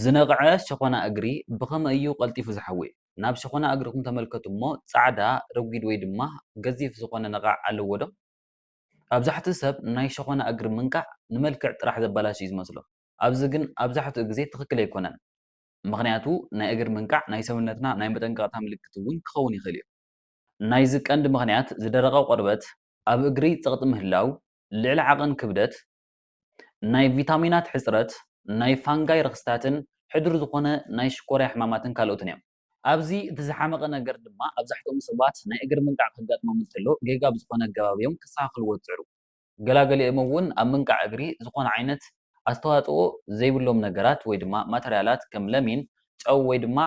ዝነቕዐ ሸኾና እግሪ ብኸመይ እዩ ቐልጢፉ ዝሓዊ? ናብ ሸኾና እግርኹም ተመልከቱ እሞ ጻዕዳ፣ ረጒድ ወይ ድማ ገዚፍ ዝኾነ ነቓዕ ኣለዎ ዶ? ኣብዛሕትኡ ሰብ ናይ ሸኾና እግሪ ምንቃዕ ንመልክዕ ጥራሕ ዘበላሹ እዩ ዝመስሎ። ኣዚ ግን ኣብዛሕትኡ ግዜ ትኽክል ኣይኮነን። ምኽንያቱ ናይ እግሪ ምንቃዕ ናይ ሰውነትና ናይ መጠንቀቕታ ምልክት እውን ክኸውን ይኽእል እዩ። ናይዚ ቀንዲ ምኽንያት ዝደረቐ ቆርበት፣ ኣብ እግሪ ጸቕጢ ምህላው፣ ልዕሊ ዓቐን ክብደት፣ ናይ ቪታሚናት ሕጽረት፣ ናይ ፋንጋይ ረኽስታትን ሕዱር ዝኾነ ናይ ሽኮርያ ሕማማትን ካልኦትን እዮም። ኣብዚ እቲ ዝሓመቐ ነገር ድማ ኣብዛሕትኦም ሰባት ናይ እግሪ ምንቃዕ ከጋጥሞም እንተሎ ጌጋ ብዝኾነ ኣገባብ እዮም ከስተኻኽልዎ ዝጽዕሩ። ገላገሊኦም እውን ኣብ ምንቃዕ እግሪ ዝኾነ ዓይነት ኣስተዋጽኦ ዘይብሎም ነገራት ወይ ድማ ማተርያላት ከም ለሚን፣ ጨው ወይ ድማ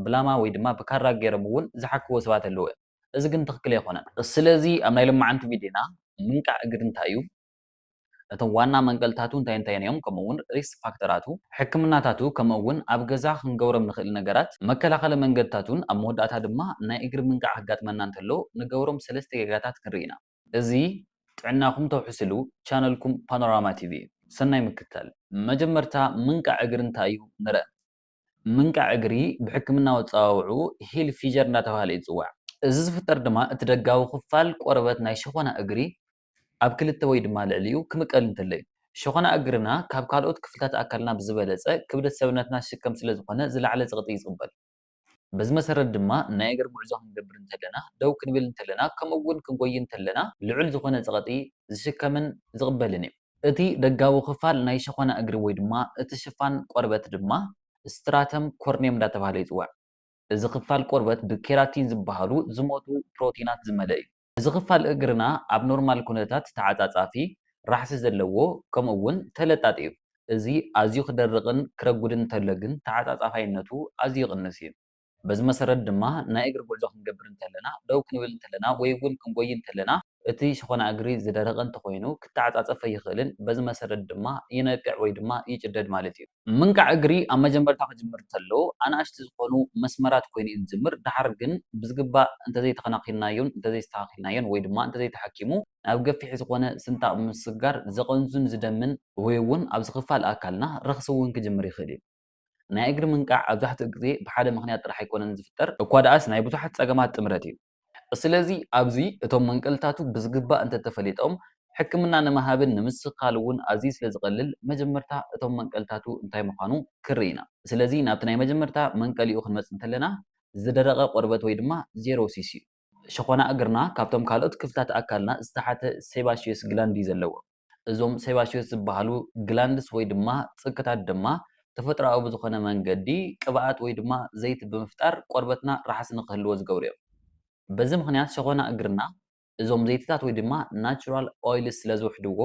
ብላማ ወይ ድማ ብካራ ገይሮም እውን ዝሓክዎ ሰባት ኣለዉ እዮም። እዚ ግን ትኽክል ኣይኮነን። ስለዚ ኣብ ናይ ሎማዓንቲ ቪድዮና ምንቃዕ እግሪ እንታይ እዩ? እቶም ዋና መንቀልታቱ እንታይ እንታይን እዮም ከምኡ እውን ሪስክ ፋክተራቱ፣ ሕክምናታቱ ከምኡ እውን ኣብ ገዛ ክንገብሮም ንኽእል ነገራት፣ መከላኸሊ መንገድታቱን ኣብ መወዳእታ ድማ ናይ እግሪ ምንቃዕ ከጋጥመና እንተሎ ንገብሮም ሰለስተ ጌጋታት ክንርኢ ኢና። እዚ ጥዕናኹም ተውሕስሉ ቻነልኩም ፓኖራማ ቲቪ እዩ። ሰናይ ምክትታል። መጀመርታ ምንቃዕ እግሪ እንታይ እዩ ንርእ። ምንቃዕ እግሪ ብሕክምናዊ ኣጸዋውዕኡ ሂል ፊጀር እንዳተባህለ እዩ ዝጽዋዕ። እዚ ዝፍጠር ድማ እቲ ደጋዊ ክፋል ቆርበት ናይ ሸኾና እግሪ ኣብ ክልተ ወይ ድማ ልዕሊኡ ክምቀል እንተሎ እዩ። ሸኾና እግርና ካብ ካልኦት ክፍልታት ኣካልና ብዝበለፀ ክብደት ሰብነትና ዝሽከም ስለዝኾነ ዝለዓለ ፀቕጢ ይፅበል። በዚ መሰረት ድማ ናይ እግር ጉዕዞ ክንገብር እንተለና፣ ደው ክንብል እንተለና ከምኡ እውን ክንጎዪ እንተለና ልዑል ዝኾነ ፀቕጢ ዝሽከምን ዝቕበልን እዩ። እቲ ደጋዊ ክፋል ናይ ሸኾና እግሪ ወይ ድማ እቲ ሽፋን ቆርበት ድማ ስትራተም ኮርኒየም እንዳተብሃለ ይፅዋዕ። እዚ ክፋል ቆርበት ብኬራቲን ዝበሃሉ ዝሞቱ ፕሮቲናት ዝመለእ እዩ። እዚ ክፋል እግርና ኣብ ኖርማል ኩነታት ተዓጻጻፊ፣ ራሕሲ ዘለዎ፣ ከምኡ እውን ተለጣጢ እዩ። እዚ ኣዝዩ ክደርቕን ክረጉድን እንተሎ ግን ተዓጻጻፋይነቱ ኣዝዩ ይቕንስ እዩ። በዚ መሰረት ድማ ናይ እግሪ ጉዕዞ ክንገብር እንተለና፣ ደው ክንብል እንተለና ወይ እውን ክንጎዪ እንተለና፣ እቲ ሸኾና እግሪ ዝደረቐ እንተኾይኑ ክተዓጻጸፍ ኣይኽእልን፣ በዚ መሰረት ድማ ይነቅዕ ወይ ድማ ይጭደድ ማለት እዩ። ምንቃዕ እግሪ ኣብ መጀመርታ ክጅምር እንተሎ ኣናእሽቲ ዝኾኑ መስመራት ኮይኑ እዩ ዝጅምር፣ ደሓር ግን ብዝግባእ እንተዘይተኸናኺንናዮን እንተዘይስተኻኺልናዮን ወይ ድማ እንተዘይተሓኪሙ ናብ ገፊሕ ዝኾነ ስንጣቕ ብምስግጋር ዘቐንዙን ዝደምን፣ ወይ እውን ኣብዚ ክፋል ኣካልና ረኽሲ እውን ክጅምር ይኽእል እዩ። ናይ እግሪ ምንቃዕ ኣብዛሕትኡ ግዜ ብሓደ ምኽንያት ጥራሕ ኣይኮነን ዝፍጠር፣ እኳ ደኣስ ናይ ብዙሓት ፀገማት ጥምረት እዩ። ስለዚ ኣብዚ እቶም መንቀልታቱ ብዝግባእ እንተተፈሊጦም ሕክምና ንምሃብን ንምስኻል እውን ኣዝዩ ስለዝቐልል መጀመርታ እቶም መንቀልታቱ እንታይ ምዃኑ ክንርኢ ኢና። ስለዚ ናብቲ ናይ መጀመርታ መንቀሊኡ ክንመጽእ እንተለና ዝደረቐ ቆርበት ወይ ድማ ዜሮሲስ እዩ። ሸኾና እግርና ካብቶም ካልኦት ክፍልታት ኣካልና ዝተሓተ ሴባሽየስ ግላንድ እዩ ዘለዎ። እዞም ሴባሽዮስ ዝበሃሉ ግላንድስ ወይ ድማ ጽግታት ድማ ተፈጥሮኣዊ ብዝኾነ መንገዲ ቅብኣት ወይ ድማ ዘይቲ ብምፍጣር ቆርበትና ራሕሲ ንክህልዎ ዝገብሩ እዮም። በዚ ምኽንያት ሸኾና እግርና እዞም ዘይቲታት ወይ ድማ ናቹራል ኦይልስ ስለዝውሕድዎ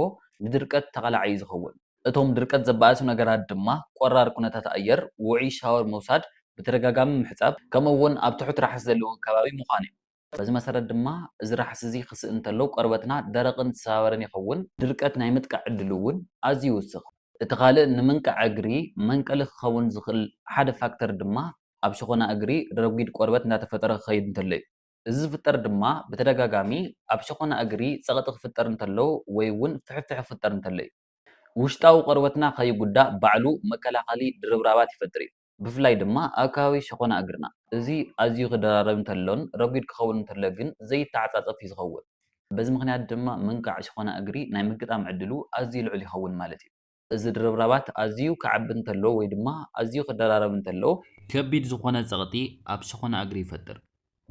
ንድርቀት ተቓላዒ እዩ ዝኸውን። እቶም ድርቀት ዘባእሱ ነገራት ድማ ቆራር ኩነታት ኣየር፣ ውዑይ ሻወር ምውሳድ፣ ብተደጋጋሚ ምሕጻብ፣ ከምኡ እውን ኣብ ትሑት ራሕሲ ዘለዎ ከባቢ ምዃን እዮም። በዚ መሰረት ድማ እዚ ራሕሲ እዚ ክስእን እንተሎ ቆርበትና ደረቕን ዝሰባበረን ይኸውን፣ ድርቀት ናይ ምጥቃዕ ዕድሉ እውን ኣዝዩ ይውስኽ። እቲ ካልእ ንምንቃዕ እግሪ መንቀሊ ክኸውን ዝኽእል ሓደ ፋክተር ድማ ኣብ ሸኾና እግሪ ረጒድ ቆርበት እንዳተፈጠረ ክኸይድ እንተሎ እዩ። እዚ ዝፍጠር ድማ ብተደጋጋሚ ኣብ ሸኾና እግሪ ጸቕጢ ክፍጠር እንተሎ ወይ እውን ፍሕፍሕ ክፍጠር እንተሎ እዩ። ውሽጣዊ ቆርበትና ከይጉዳእ ባዕሉ መከላኸሊ ድርብራባት ይፈጥር እዩ። ብፍላይ ድማ ኣብ ከባቢ ሸኾና እግርና። እዚ ኣዝዩ ክደራረብ እንተሎን ረጒድ ክኸውን እንተሎ ግን ዘይተዓጻጸፍ እዩ ዝኸውን። በዚ ምኽንያት ድማ ምንቃዕ ሸኾና እግሪ ናይ ምግጣም ዕድሉ ኣዝዩ ልዑል ይኸውን ማለት እዩ። እዚ ድርብራባት ኣዝዩ ክዓቢ እንተሎ ወይ ድማ ኣዝዩ ክደራረብ እንተሎ። ከቢድ ዝኾነ ጸቕጢ ኣብ ሸኾና እግሪ ይፈጥር።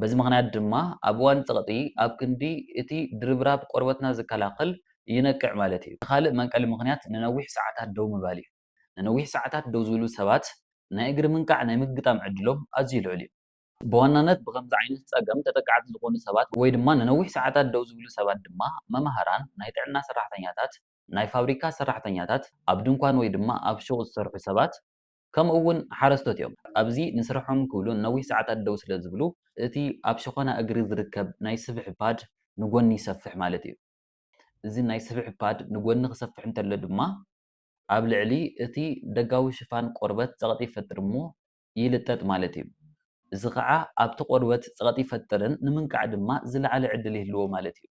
በዚ ምኽንያት ድማ ኣብ እዋን ጸቕጢ ኣብ ክንዲ እቲ ድርብራብ ቆርበትና ዝከላኸል ይነቅዕ ማለት እዩ። እቲ ካልእ መንቀሊ ምኽንያት ንነዊሕ ሰዓታት ደው ምባል እዩ። ንነዊሕ ሰዓታት ደው ዝብሉ ሰባት ናይ እግሪ ምንቃዕ ናይ ምግጣም ዕድሎም ኣዝዩ ልዑል እዩ። ብዋናነት ብኸምዚ ዓይነት ጸገም ተጠቃዕቲ ዝኾኑ ሰባት ወይ ድማ ንነዊሕ ሰዓታት ደው ዝብሉ ሰባት ድማ መማህራን፣ ናይ ጥዕና ሰራሕተኛታት፣ ናይ ፋብሪካ ሰራሕተኛታት፣ ኣብ ድንኳን ወይ ድማ ኣብ ሹቕ ዝሰርሑ ሰባት፣ ከምኡ እውን ሓረስቶት እዮም። ኣብዚ ንስርሖም ክብሉ ንነዊሕ ሰዓታት ደው ስለ ዝብሉ እቲ ኣብ ሸኾና እግሪ ዝርከብ ናይ ስብሒ ፓድ ንጎኒ ይሰፍሕ ማለት እዩ። እዚ ናይ ስብሒ ፓድ ንጎኒ ክሰፍሕ እንተሎ ድማ ኣብ ልዕሊ እቲ ደጋዊ ሽፋን ቆርበት ጸቕጢ ይፈጥር እሞ ይልጠጥ ማለት እዩ። እዚ ከኣ ኣብቲ ቆርበት ጸቕጢ ይፈጥርን ንምንቃዕ ድማ ዝለዓለ ዕድል ይህልዎ ማለት እዩ።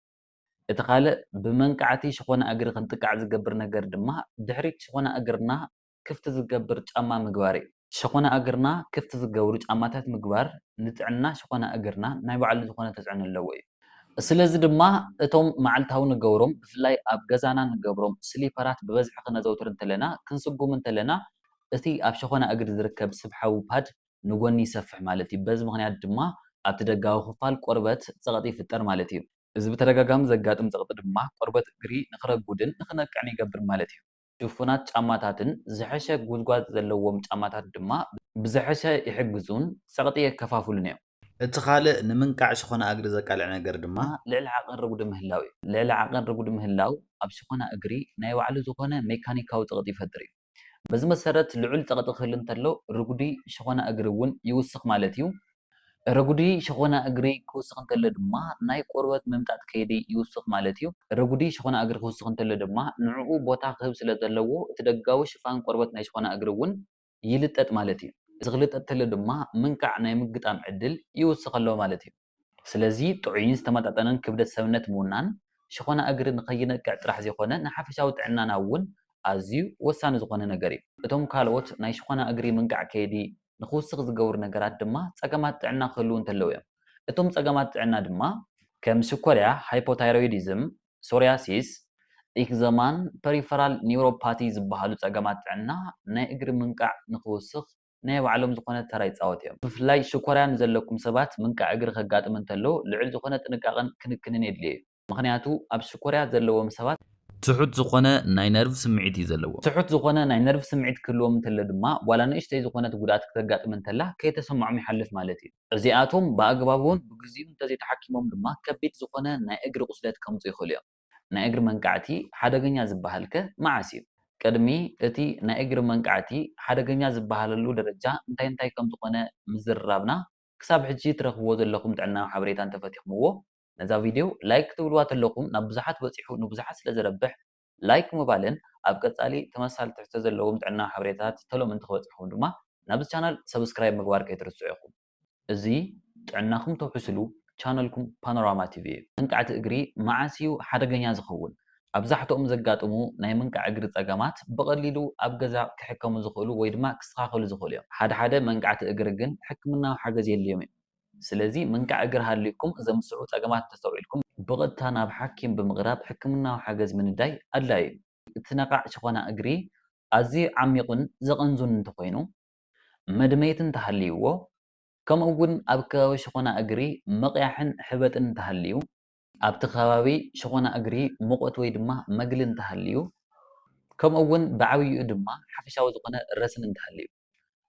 እቲ ካልእ ብመንቃዕቲ ሸኾና እግሪ ክንጥቃዕ ዝገብር ነገር ድማ ድሕሪት ሸኾና እግርና ክፍቲ ዝገብር ጫማ ምግባር እዩ። ሸኾና እግርና ክፍቲ ዝገብሩ ጫማታት ምግባር ንጥዕና ሸኾና እግርና ናይ ባዕሉ ዝኾነ ተፅዕኖ ኣለዎ እዩ። ስለዚ ድማ እቶም መዓልታዊ ንገብሮም ብፍላይ ኣብ ገዛና ንገብሮም ስሊፐራት ብበዝሒ ክነዘውትር እንተለና፣ ክንስጉም እንተለና እቲ ኣብ ሸኾና እግሪ ዝርከብ ስብሓዊ ፓድ ንጎኒ ይሰፍሕ ማለት እዩ። በዚ ምኽንያት ድማ ኣብቲ ደጋዊ ክፋል ቆርበት ፀቕጢ ይፍጠር ማለት እዩ። እዚ ብተደጋጋሚ ዘጋጥም ፀቕጢ ድማ ቆርበት እግሪ ንክረጉድን ንክነቅዕን ይገብር ማለት እዩ። ድፉናት ጫማታትን ዝሐሸ ጉዝጓዝ ዘለዎም ጫማታት ድማ ብዝሐሸ ይሕግዙን ፀቕጢ የከፋፍሉን እዮም። እቲ ኻልእ ንምንቃዕ ሽኾና እግሪ ዘቃልዕ ነገር ድማ። ልዕሊ ዓቐን ርጉዲ ምህላው እዩ። ልዕሊ ዓቐን ርጉዲ ምህላው ኣብ ሽኾና እግሪ ናይ ባዕሉ ዝኾነ ሜካኒካዊ ፀቕጢ ይፈጥር እዩ። በዚ መሰረት ልዑል ፀቕጢ ክህሉ እንተሎ ርጉዲ ሽኾና እግሪ እውን ይውስኽ ማለት እዩ። ረጉዲ ሸኾና እግሪ ክውስኽ እንተሎ ድማ ናይ ቆርበት ምምጣጥ ከይዲ ይውስኽ ማለት እዩ። ረጉዲ ሸኾና እግሪ ክውስኽ እንተሎ ድማ ንዕኡ ቦታ ክህብ ስለ ዘለዎ እቲ ደጋዊ ሽፋን ቆርበት ናይ ሸኾና እግሪ እውን ይልጠጥ ማለት እዩ። እዚ ክልጠጥ ተሎ ድማ ምንቃዕ ናይ ምግጣም ዕድል ይውስኽ ኣሎ ማለት እዩ። ስለዚ ጥዑይን ዝተመጣጠነን ክብደት ሰብነት ምውናን ሸኾና እግሪ ንከይነቅዕ ጥራሕ ዘይኮነ ንሓፈሻዊ ጥዕናና እውን ኣዝዩ ወሳኒ ዝኾነ ነገር እዩ። እቶም ካልኦት ናይ ሸኾና እግሪ ምንቃዕ ከይዲ ንኽውስኽ ዝገብሩ ነገራት ድማ ጸገማት ጥዕና ክህልዉ እንተለዉ እዮም። እቶም ጸገማት ጥዕና ድማ። ከም ሽኮርያ፣ ሃይፖታይሮይዲዝም፣ ሶርያሲስ፣ ኢክዘማን ፐሪፈራል ኒውሮፓቲ ዝበሃሉ ጸገማት ጥዕና ናይ እግሪ ምንቃዕ ንኽውስኽ ናይ ባዕሎም ዝኾነ ተራ ይጻወቱ እዮም። ብፍላይ ሽኮርያ ንዘለኩም ሰባት ምንቃዕ እግሪ ከጋጥም እንተሎ ልዑል ዝኾነ ጥንቃቐን ክንክንን የድልዮ እዩ። ምኽንያቱ ኣብ ሽኮርያ ዘለዎም ሰባት። ትሑት ዝኾነ ናይ ነርቭ ስምዒት እዩ ዘለዎም። ትሑት ዝኾነ ናይ ነርቭ ስምዒት ክህልዎም እንተሎ ድማ ዋላ ንእሽተይ ዝኾነት ጉድኣት ክተጋጥም እንተላ ከይተሰምዖም ይሓልፍ ማለት እዩ። እዚኣቶም ብኣግባቡን ብግዚኡ እንተዘይተሓኪሞም ድማ ከቢድ ዝኾነ ናይ እግሪ ቁስለት ከምፅኡ ይኽእሉ እዮም። ናይ እግሪ መንቃዕቲ ሓደገኛ ዝበሃል ከ መዓስ እዩ? ቅድሚ እቲ ናይ እግሪ መንቃዕቲ ሓደገኛ ዝበሃለሉ ደረጃ እንታይ እንታይ ከምዝኾነ ምዝርራብና ክሳብ ሕጂ ትረኽብዎ ዘለኹም ጥዕናዊ ሓበሬታ እንተፈቲኽምዎ ነዛ ቪድዮ ላይክ ክትብልዋ ተለኩም ናብ ብዙሓት በጺሑ ንብዙሓት ስለ ዘረብሕ ላይክ ምባልን ኣብ ቀጻሊ ተመሳሳሊ ትሕዝቶ ዘለዎም ጥዕናዊ ሓበሬታታት ተሎ ምእንቲ ክበጽሕኩም ድማ ናብዚ ቻነል ሰብስክራይብ ምግባር ከይትርስዑ ኢኩም። እዚ ጥዕናኩም ተውሕስሉ ቻነልኩም ፓኖራማ ቲቪ እዩ። መንቃዕቲ እግሪ መዓስ እዩ ሓደገኛ ዝከውን? ኣብዛሕትኦም ዘጋጥሙ ናይ ምንቃዕ እግሪ ጸገማት ብቐሊሉ ኣብ ገዛ ክሕከሙ ዝኽእሉ ወይ ድማ ክስተኻኸሉ ዝኽእሉ እዮም። ሓደ ሓደ መንቃዕቲ እግሪ ግን ሕክምናዊ ሓገዝ የድልዮም እዩ። ስለዚ ምንቃዕ እግሪ ሃልዩኩም ዘምስዑ ጸገማት እንተስተውዒልኩም፣ ብቐጥታ ናብ ሓኪም ብምቕራብ ሕክምናዊ ሓገዝ ምንዳይ ኣድላዪ እዩ። እቲ ነቓዕ ሸኾና እግሪ ኣዝዩ ዓሚቝን ዘቐንዙን እንተኾይኑ፣ መድመይቲ እንተሃልይዎ፣ ከምኡ'ውን ኣብ ከባቢ ሸኾና እግሪ ምቕያሕን ሕበጥን እንተሃልዩ፣ ኣብቲ ከባቢ ሸኾና እግሪ ሙቐት ወይ ድማ መግሊ እንተሃልዩ፣ ከምኡ'ውን ብዓብይኡ ድማ ሓፈሻዊ ዝኾነ ረስኒ እንተሃልዩ።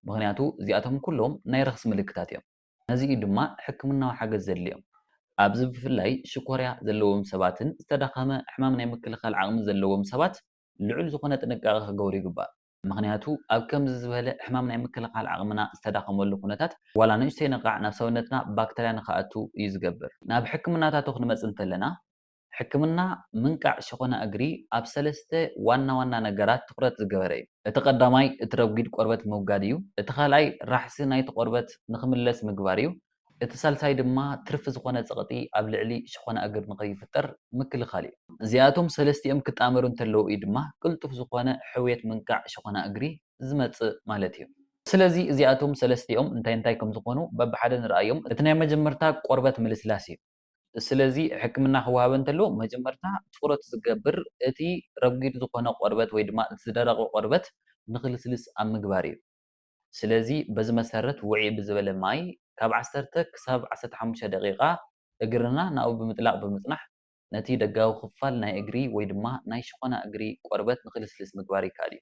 ምኽንያቱ እዚኣቶም ኩሎም ናይ ረኽሲ ምልክታት እዮም፣ ነዚ እዩ ድማ ሕክምናዊ ሓገዝ ዘድልዮም። ኣብዚ ብፍላይ ሽኮርያ ዘለዎም ሰባትን ዝተዳኸመ ሕማም ናይ ምክልኻል ዓቕሚ ዘለዎም ሰባት ልዑል ዝኾነ ጥንቃቐ ክገብሩ ይግባእ። ምኽንያቱ ኣብ ከምዚ ዝበለ ሕማም ናይ ምክልኻል ዓቕምና ዝተዳኸመሉ ኩነታት ዋላ ንእሽተይ ነቓዕ ናብ ሰውነትና ባክተርያ ንኽኣቱ እዩ ዝገብር። ናብ ሕክምናታቱ ክንመጽእ እንተለና ሕክምና ምንቃዕ ሸኾና እግሪ ኣብ ሰለስተ ዋና ዋና ነገራት ትኹረት ዝገበረ እዩ። እቲ ቀዳማይ እቲ ረጒድ ቆርበት ምውጋድ እዩ። እቲ ካልኣይ ራሕሲ ናይቲ ቆርበት ንክምለስ ምግባር እዩ። እቲ ሳልሳይ ድማ ትርፊ ዝኾነ ጸቕጢ ኣብ ልዕሊ ሸኾና እግሪ ንከይፍጠር ምክልኻል እዩ። እዚኣቶም ሰለስቲኦም ክጣመሩ እንተለዉ እዩ ድማ ቅልጡፍ ዝኾነ ሕውየት ምንቃዕ ሸኾና እግሪ ዝመጽእ ማለት እዩ። ስለዚ እዚኣቶም ሰለስቲኦም እንታይ እንታይ ከምዝኾኑ በብሓደ ንርኣዮም። እቲ ናይ መጀመርታ ቆርበት ምልስላስ እዩ። ስለዚ ሕክምና ክወሃበን እንተሎ መጀመርታ ትኹረት ዝገብር እቲ ረጒድ ዝኾነ ቆርበት ወይ ድማ እቲ ዝደረቐ ቆርበት ንክልስልስ ኣብ ምግባር እዩ። ስለዚ በዚ መሰረት ውዕይ ብዝበለ ማይ ካብ ዓሰርተ ክሳብ ዓሰርተ ሓሙሽተ ደቒቓ እግርና ናብኡ ብምጥላቕ ብምፅናሕ ነቲ ደጋዊ ክፋል ናይ እግሪ ወይ ድማ ናይ ሸኾና እግሪ ቆርበት ንክልስልስ ምግባር ይከኣል እዩ።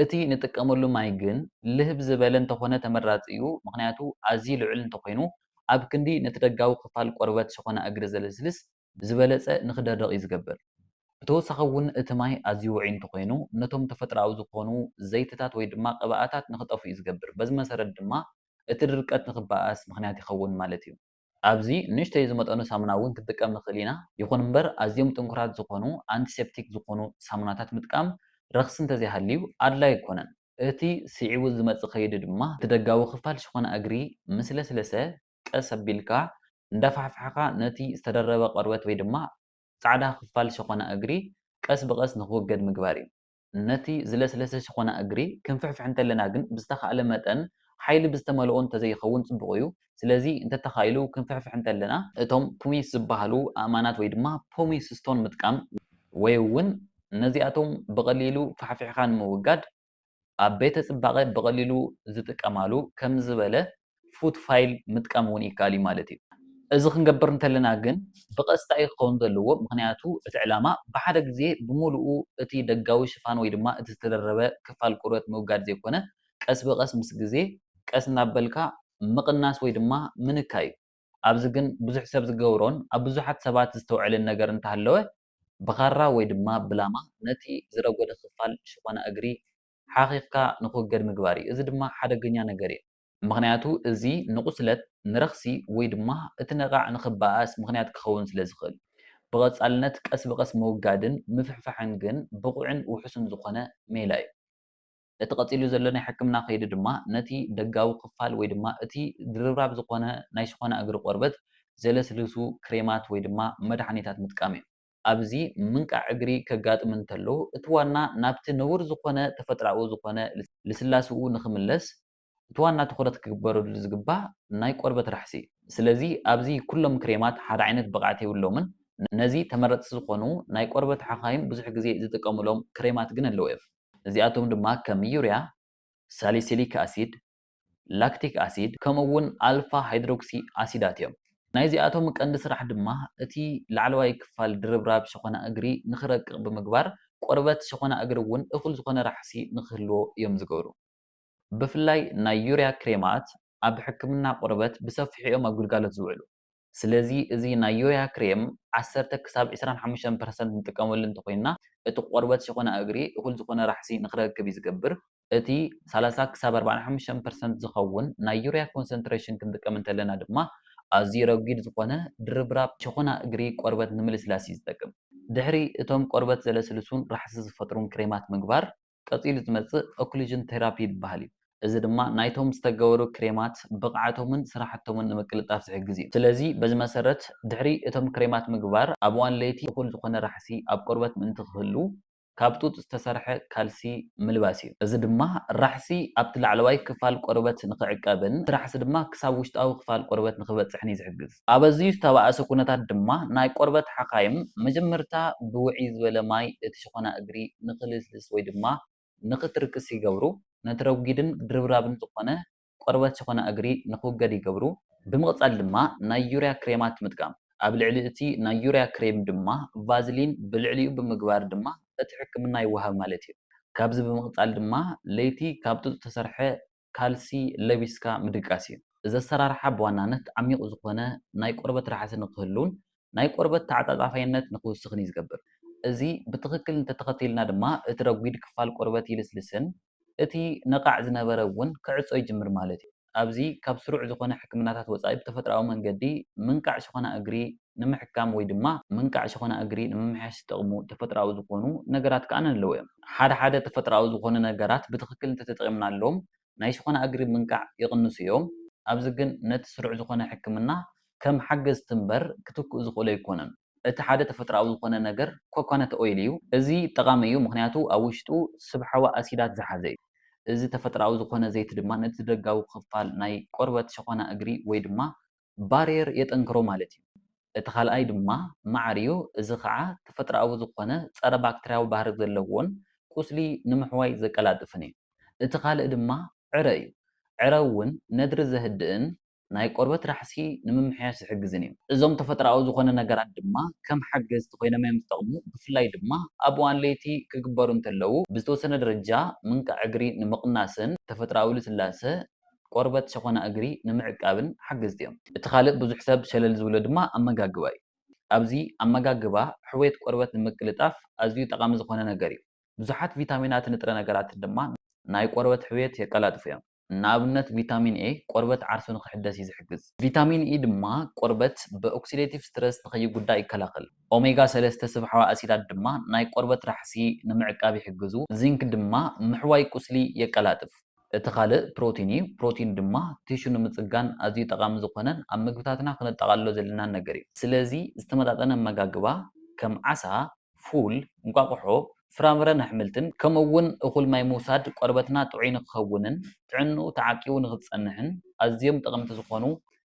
እቲ ንጥቀመሉ ማይ ግን ልህብ ዝበለ እንተኾነ ተመራፂ እዩ ምኽንያቱ ኣዝዩ ልዑል እንተኾይኑ ኣብ ክንዲ ነቲ ደጋዊ ክፋል ቆርበት ሸኾና እግሪ ዘለስልስ ብዝበለፀ ንኽደርቕ እዩ ዝገብር። ብተወሳኺ እውን እቲ ማይ ኣዝዩ ውዑይ እንተኾይኑ ነቶም ተፈጥሮኣዊ ዝኾኑ ዘይቲታት ወይ ድማ ቅብኣታት ንኽጠፍኡ እዩ ዝገብር በዚ መሰረት ድማ እቲ ድርቀት ንኽበኣስ ምኽንያት ይኸውን ማለት እዩ። ኣብዚ ንእሽተይ ዝመጠኑ ሳሙና እውን ክንጥቀም ንኽእል ኢና። ይኹን እምበር ኣዝዮም ጥንኩራት ዝኾኑ ኣንቲሴፕቲክ ዝኾኑ ሳሙናታት ምጥቃም ረኽሲ እንተዘይሃልዩ ኣድላይ ኣይኮነን። እቲ ስዒቡ ዝመጽእ ከይዲ ድማ እቲ ደጋዊ ክፋል ሽኾና እግሪ ምስ ለስለሰ ቀስ ኣቢልካ እንዳፋሕፋሕኻ ነቲ ዝተደረበ ቆርበት ወይ ድማ ጻዕዳ ክፋል ሽኾና እግሪ ቀስ ብቐስ ንኽውገድ ምግባር እዩ። ነቲ ዝለስለሰ ሸኾና እግሪ ክንፍሕፍሕ እንተለና ግን ብዝተኻእለ መጠን ሓይሊ ብዝተመልኦ እንተዘይኸውን ጽቡቕ እዩ። ስለዚ እንተተኻኢሉ ክንፍሕፍሕ እንተለና፣ እቶም ፑሚስ ዝበሃሉ ኣእማናት ወይ ድማ ፑሚስ ስቶን ምጥቃም፣ ወይ እውን ነዚኣቶም ብቐሊሉ ፋሕፊሕካ ንምውጋድ ኣብ ቤተ ጽባቐ ብቐሊሉ ዝጥቀማሉ ከምዚ ዝበለ ፉት ፋይል ምጥቃም እውን ይከኣል እዩ ማለት እዩ። እዚ ክንገብር እንተለና ግን ብቐጥታ እዩ ክኸውን ዘለዎ ምኽንያቱ እቲ ዕላማ ብሓደ ግዜ ብምሉኡ እቲ ደጋዊ ሽፋን ወይ ድማ እቲ ዝተደረበ ክፋል ቆርበት ምውጋድ ዘይኮነ ቀስ ብቐስ ምስ ግዜ ቀስ እናበልካ ምቕናስ ወይ ድማ ምንካይ እዩ። ኣብዚ ግን ብዙሕ ሰብ ዝገብሮን ኣብ ብዙሓት ሰባት ዝስተውዐልን ነገር እንተሃለወ ብኻራ ወይ ድማ ብላማ ነቲ ዝረጎደ ክፋል ሽኾና እግሪ ሓኺኽካ ንኽውገድ ምግባር እዩ። እዚ ድማ ሓደገኛ ነገር እዩ። ምኽንያቱ እዚ ንቝስለት፣ ንረኽሲ ወይ ድማ እቲ ነቓዕ ንኽበኣስ ምኽንያት ክኸውን ስለ ዝኽእል። ብቐጻልነት ቀስ ብቐስ ምውጋድን ምፍሕፋሕን ግን ብቑዕን ውሑስን ዝዀነ ሜላ እዩ። እቲ ቀጺሉ ዘሎ ናይ ሕክምና ከይዲ ድማ ነቲ ደጋዊ ክፋል ወይ ድማ እቲ ድርብራብ ዝዀነ ናይ ሽዀና እግሪ ቈርበት ዘለስልሱ ክሬማት ወይ ድማ መድሓኒታት ምጥቃም እዩ። ኣብዚ ምንቃዕ እግሪ ከጋጥም እንተሎ እቲ ዋና ናብቲ ንቡር ዝኾነ ተፈጥራኡ ዝኾነ ልስላስኡ ንኽምለስ እቲ ዋና ትኹረት ክግበረሉ ዝግባእ ናይ ቆርበት ራሕሲ። ስለዚ ኣብዚ ኩሎም ክሬማት ሓደ ዓይነት ብቕዓት የብሎምን። ነዚ ተመረጽቲ ዝኾኑ ናይ ቆርበት ሓኻይም ብዙሕ ግዜ ዝጥቀሙሎም ክሬማት ግን ኣለዉ እፍ። እዚኣቶም ድማ ከም ዩርያ፣ ሳሊሲሊክ ኣሲድ፣ ላክቲክ ኣሲድ ከምኡ'ውን ኣልፋ ሃይድሮክሲ ኣሲዳት እዮም። ናይዚኣቶም ቀንዲ ስራሕ ድማ እቲ ላዕለዋይ ክፋል ድርብራብ ሸኾና እግሪ ንኽረቅቕ ብምግባር ቆርበት ሸኾና እግሪ እውን እኹል ዝኾነ ራሕሲ ንኽህልዎ እዮም ዝገብሩ። ብፍላይ ናይ ዩርያ ክሬማት ኣብ ሕክምና ቆርበት ብሰፊሑ እዮም ኣብ ግልጋሎት ዝውዕሉ። ስለዚ እዚ ናይ ዮያ ክሬም ዓሰርተ ክሳብ ዕስራን ሓሙሽተን ፐርሰንት ንጥቀመሉ እንተኾይንና እቲ ቆርበት ሸኾና እግሪ እኹል ዝኾነ ራሕሲ ንኽረክብ እዩ ዝገብር። እቲ ሰላሳ ክሳብ ኣርባዓን ሓሙሽተን ፐርሰንት ዝኸውን ናይ ዩርያ ኮንሰንትረሽን ክንጥቀም እንተለና ድማ ኣዝዩ ረጒድ ዝኾነ ድርብራብ ሸኾና እግሪ ቆርበት ንምልስላስ እዩ ዝጠቅም። ድሕሪ እቶም ቆርበት ዘለስልሱን ራሕሲ ዝፈጥሩን ክሬማት ምግባር፣ ቀጺሉ ዝመጽእ ኦክሉዥን ቴራፒ ዝበሃል እዩ። እዚ ድማ ናይቶም ዝተገበሩ ክሬማት ብቕዓቶምን ስራሕቶምን ንምቅልጣፍ ዝሕግዝ እዩ። ስለዚ በዚ መሰረት ድሕሪ እቶም ክሬማት ምግባር ኣብ እዋን ለይቲ እኹል ዝኾነ ራሕሲ ኣብ ቆርበት ምእንቲ ክህሉ ካብ ጡጥ ዝተሰርሐ ካልሲ ምልባስ እዩ። እዚ ድማ ራሕሲ ኣብቲ ላዕለዋይ ክፋል ቆርበት ንኽዕቀብን እቲ ራሕሲ ድማ ክሳብ ውሽጣዊ ክፋል ቆርበት ንኽበጽሕን እዩ ዝሕግዝ። ኣብ ኣዝዩ ዝተባእሰ ኩነታት ድማ ናይ ቆርበት ሓካይም መጀመርታ ብውዕይ ዝበለ ማይ እቲ ሽኾና እግሪ ንክልስልስ ወይ ድማ ንክትርክስ ይገብሩ፣ ነቲ ረጒድን ድርብራብን ዝኾነ ቆርበት ሽኾና እግሪ ንክውገድ ይገብሩ። ብምቕጻል ድማ ናይ ዩርያ ክሬማት ምጥቃም፣ ኣብ ልዕሊ እቲ ናይ ዩርያ ክሬም ድማ ቫዝሊን ብልዕሊኡ ብምግባር ድማ እቲ ሕክምና ይወሃብ ማለት እዩ። ካብዚ ብምቕጻል ድማ ለይቲ ካብ ጡጥ ዝተሰርሐ ካልሲ ለቢስካ ምድቃስ እዩ። እዚ ኣሰራርሓ ብዋናነት ዓሚቝ ዝኾነ ናይ ቆርበት ራሕሲ ንኽህሉን ናይ ቆርበት ተዓጻጻፋይነት ንኽውስኽን እዩ ዝገብር። እዚ ብትኽክል እንተተኸቲልና ድማ እቲ ረጒድ ክፋል ቆርበት ይልስልስን እቲ ነቓዕ ዝነበረ እውን ክዕጾ ይጅምር ማለት እዩ። ኣብዚ ካብ ስሩዕ ዝኾነ ሕክምናታት ወጻኢ ብተፈጥሮኣዊ መንገዲ ምንቃዕ ሽኾና እግሪ ንምሕካም ወይ ድማ ምንቃዕ ሸኾና እግሪ ንምምሕያሽ ዝጠቕሙ ተፈጥሮኣዊ ዝኾኑ ነገራት ከኣ ኣለዉ እዮም። ሓደ ሓደ ተፈጥሮኣዊ ዝኾኑ ነገራት ብትኽክል እንተተጠቒምናሎም ናይ ሸኾና እግሪ ምንቃዕ ይቕንሱ እዮም። ኣብዚ ግን ነቲ ስሩዕ ዝኾነ ሕክምና ከም ሓገዝቲ እምበር ክትክኡ ዝኽእሉ ኣይኮኑን። እቲ ሓደ ተፈጥሮኣዊ ዝኾነ ነገር ኮኮነት ኦይል እዩ። እዚ ጠቓሚ እዩ ምኽንያቱ ኣብ ውሽጡ ስብሓዊ ኣሲዳት ዝሓዘ እዩ። እዚ ተፈጥሮኣዊ ዝኾነ ዘይቲ ድማ ነቲ ደጋዊ ክፋል ናይ ቆርበት ሸኾና እግሪ ወይ ድማ ባርየር የጠንክሮ ማለት እዩ። እቲ ካልኣይ ድማ መዓር እዩ፣ እዚ ኸዓ ተፈጥሮኣዊ ዝኾነ ፀረ ባክተርያዊ ባህሪ ዘለዎን ቁስሊ ንምሕዋይ ዘቀላጥፍን እዩ። እቲ ካልእ ድማ ዕረ እዩ። ዕረ እውን ነድሪ ዘህድእን ናይ ቆርበት ራሕሲ ንምምሕያሽ ዝሕግዝን እዩ። እዞም ተፈጥሮኣዊ ዝኾነ ነገራት ድማ ከም ሓገዝቲ ኮይኖም እዮም ዝጠቕሙ፣ ብፍላይ ድማ ኣብ እዋን ለይቲ ክግበሩ እንተለዉ ብዝተወሰነ ደረጃ ምንቃዕ እግሪ ንምቕናስን ተፈጥሮኣዊ ልስላሰ ቆርበት ሸኾና እግሪ ንምዕቃብን ሓገዝቲ እዮም። እቲ ካልእ ብዙሕ ሰብ ሸለል ዝብሎ ድማ ኣመጋግባ እዩ። ኣብዚ ኣመጋግባ ሕውየት ቆርበት ንምቅልጣፍ ኣዝዩ ጠቓሚ ዝኾነ ነገር እዩ። ብዙሓት ቪታሚናትን ንጥረ ነገራትን ድማ ናይ ቆርበት ሕውየት የቀላጥፉ እዮም። ንኣብነት ቪታሚን ኤ ቆርበት ዓርሱ ንኽሕደስ እዩ ዝሕግዝ። ቪታሚን ኢ ድማ ቆርበት ብኦክሲደቲቭ ስትረስ ንኸይጉዳእ ይከላኸል። ኦሜጋ ሰለስተ ስብሓዊ ኣሲዳት ድማ ናይ ቆርበት ራሕሲ ንምዕቃብ ይሕግዙ። ዚንክ ድማ ምሕዋይ ቁስሊ የቀላጥፍ። እቲ ካልእ ፕሮቲን እዩ። ፕሮቲን ድማ ቲሹ ንምጽጋን ኣዝዩ ጠቓሚ ዝኾነን ኣብ ምግብታትና ክነጠቓልሎ ዘለናን ነገር እዩ። ስለዚ ዝተመጣጠነ ኣመጋግባ ከም ዓሳ፣ ፉል፣ እንቋቑሖ፣ ፍራምረን ኣሕምልትን ከምኡ'ውን እኹል ማይ ምውሳድ ቆርበትና ጥዑይ ንክኸውንን ጥዕንኡ ተዓቂቡ ንክጸንሕን ኣዝዮም ጠቐምቲ ዝኾኑ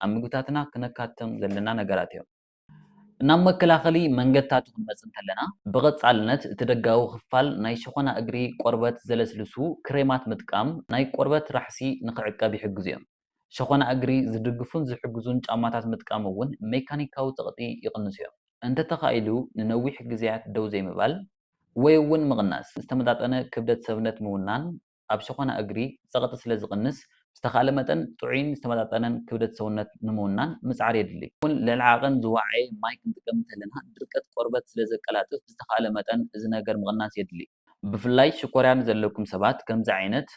ኣብ ምግብታትና ክነካትቶም ዘለና ነገራት እዮም። ናብ መከላኸሊ መንገድታት ኽንመጽእ እንከለና፣ ብቐጻልነት እቲ ደጋዊ ኽፋል ናይ ሸኾና እግሪ ቈርበት ዘለስልሱ ክሬማት ምጥቃም ናይ ቈርበት ራሕሲ ንኽዕቀብ ይሕግዙ እዮም። ሸኾና እግሪ ዝድግፉን ዝሕግዙን ጫማታት ምጥቃም እውን ሜካኒካዊ ጸቕጢ ይቕንሱ እዮም። እንተተኻኢሉ ንነዊሕ ግዜያት ደው ዘይምባል ወይ እውን ምቕናስ፣ ዝተመጣጠነ ክብደት ሰብነት ምውናን፣ ኣብ ሸኾና እግሪ ጸቕጢ ስለ ዝቕንስ፣ ብዝተኻእለ መጠን ጥዑይን ዝተመጣጠነን ክብደት ሰውነት ንምውናን ምጽዓር የድሊ። ከምኡ'ውን ልዕሊ ዓቐን ዝወዓየ ማይ ክንጥቀም እንተለና ድርቀት ቆርበት ስለ ዘቀላጥፍ ብዝተኻእለ መጠን እዚ ነገር ምቕናስ የድሊ። ብፍላይ ሽኮርያ ንዘለኩም ሰባት ከምዚ ዓይነት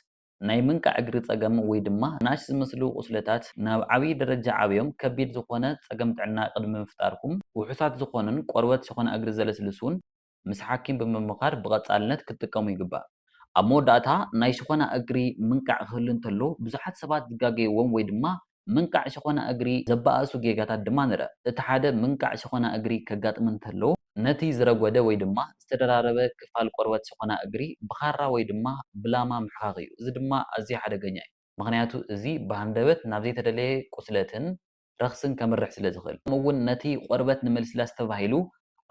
ናይ ምንቃዕ እግሪ ጸገም ወይ ድማ ንኣሽ ዝመስሉ ቁስለታት ናብ ዓብይ ደረጃ ዓብዮም ከቢድ ዝኾነ ጸገም ጥዕና ቅድሚ ምፍጣርኩም ውሑሳት ዝኾኑን ቆርበት ሸኾና እግሪ ዘለስልሱን ምስ ሓኪም ብምምኻር ብቐጻልነት ክትጥቀሙ ይግባእ። ኣብ መወዳእታ፣ ናይ ሸኾና እግሪ ምንቃዕ ክህሉ እንተሎ፣ ብዙሓት ሰባት ዝጋገዩዎም ወይ ድማ ምንቃዕ ሸኾና እግሪ ዘበኣእሱ ጌጋታት ድማ ንርእ። እቲ ሓደ፣ ምንቃዕ ሸኾና እግሪ ከጋጥም እንተሎ፣ ነቲ ዝረጐደ ወይ ድማ ዝተደራረበ ክፋል ቆርበት ሸኾና እግሪ ብኻራ ወይ ድማ ብላማ ምሕካኽ እዩ። እዚ ድማ ኣዝዩ ሓደገኛ እዩ፣ ምኽንያቱ እዚ ብሃንደበት ናብ ዘይተደለየ ቁስለትን ረኽስን ከምርሕ ስለ ዝኽእል። ከምኡ እውን ነቲ ቆርበት ንምልስላስ ተባሂሉ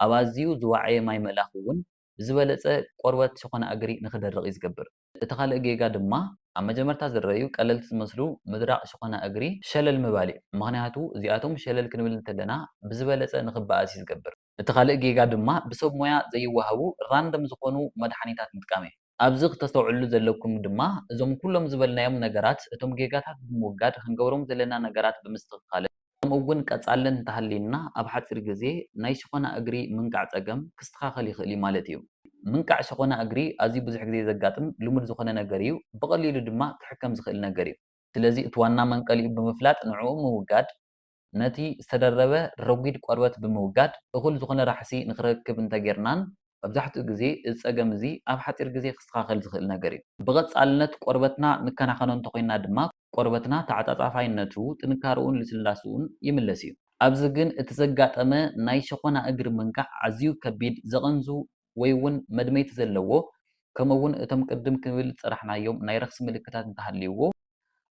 ኣብ ኣዝዩ ዝወዓየ ማይ ምእላኽ እውን ብዝበለጸ ቆርበት ሸኾና እግሪ ንኽደርቕ እዩ ዝገብር። እቲ ካልእ ጌጋ ድማ ኣብ መጀመርታ ዝረኣዩ ቀለልቲ ዝመስሉ ምድራቕ ሸኾና እግሪ ሸለል ምባል እዩ። ምኽንያቱ እዚኣቶም ሸለል ክንብል እንተለና ብዝበለጸ ንኽበኣስ እዩ ዝገብር። እቲ ካልእ ጌጋ ድማ ብሰብ ሞያ ዘይወሃቡ ራንደም ዝኾኑ መድሓኒታት ምጥቃም እዩ። ኣብዚ ክተስተውዕልሉ ዘለኩም ድማ እዞም ኩሎም ዝበልናዮም ነገራት እቶም ጌጋታት ብምውጋድ ክንገብሮም ዘለና ነገራት ብምስትኽካልን ከምኡ እውን ቀጻልን እንተሃልዩና ኣብ ሓጺር ግዜ ናይ ሸኾና እግሪ ምንቃዕ ጸገም ክስተኻኸል ይኽእል እዩ ማለት እዩ። ምንቃዕ ሸኾና እግሪ ኣዝዩ ብዙሕ ግዜ ዘጋጥም ልሙድ ዝኾነ ነገር እዩ፣ ብቐሊሉ ድማ ክሕከም ዝኽእል ነገር እዩ። ስለዚ እቲ ዋና መንቀሊኡ ብምፍላጥ ንዕኡ ምውጋድ ነቲ ዝተደረበ ረጒድ ቆርበት ብምውጋድ እኹል ዝዀነ ራሕሲ ንኽረክብ እንተ ጌርናን፣ መብዛሕትኡ ግዜ እዚ ጸገም እዚ ኣብ ሓጺር ግዜ ክስተኻኸል ዝኽእል ነገር እዩ። ብቐጻልነት ቆርበትና ንከናኸኖ እንተ ዄንና ድማ፣ ቆርበትና ተዓጻጻፋይነቱ፣ ጥንካረኡን ልስላስኡን ይምለስ እዩ። ኣብዚ ግን እቲ ዘጋጠመ ናይ ሸኾና እግሪ ምንቃዕ ኣዝዩ ከቢድ፣ ዘቐንዙ ወይ ውን መድመይቲ ዘለዎ ከምኡ ውን እቶም ቅድም ክብል ዝጸራሕናዮም ናይ ረኽሲ ምልክታት እንተሃልይዎ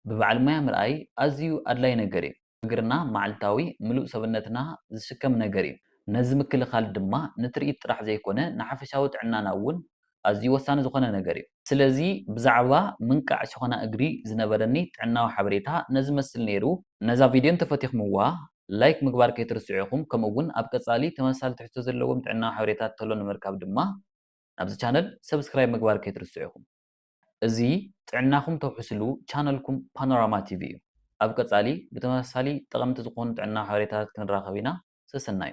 ብበዓል ሞያ ምርኣይ ኣዝዩ ኣድላይ ነገር እዩ። እግርና መዓልታዊ ምሉእ ሰብነትና ዝስከም ነገር እዩ። ነዚ ምክልኻል ድማ ንትርኢት ጥራሕ ዘይኮነ ንሓፈሻዊ ጥዕናና ውን ኣዝዩ ወሳኒ ዝኾነ ነገር እዩ። ስለዚ ብዛዕባ ምንቃዕ ሸኾና እግሪ ዝነበረኒ ጥዕናዊ ሓበሬታ ነዚ መስል ነይሩ። ነዛ ቪድዮ እንተፈቲኽምዋ ላይክ ምግባር ከይትርስዑ ኢኹም ከምኡ እውን ኣብ ቀፃሊ ተመሳሳሊ ትሕዝቶ ዘለዎም ጥዕናዊ ሓበሬታት ተሎ ንምርካብ ድማ ናብዚ ቻነል ሰብስክራይብ ምግባር ከይትርስዑ ኢኹም። እዚ ጥዕናኹም ተውሕስሉ ቻነልኩም ፓኖራማ ቲቪ እዩ። ኣብ ቀፃሊ ብተመሳሳሊ ጠቐምቲ ዝኾኑ ጥዕናዊ ሓበሬታታት ክንራኸብ ኢና ሰሰናዩ።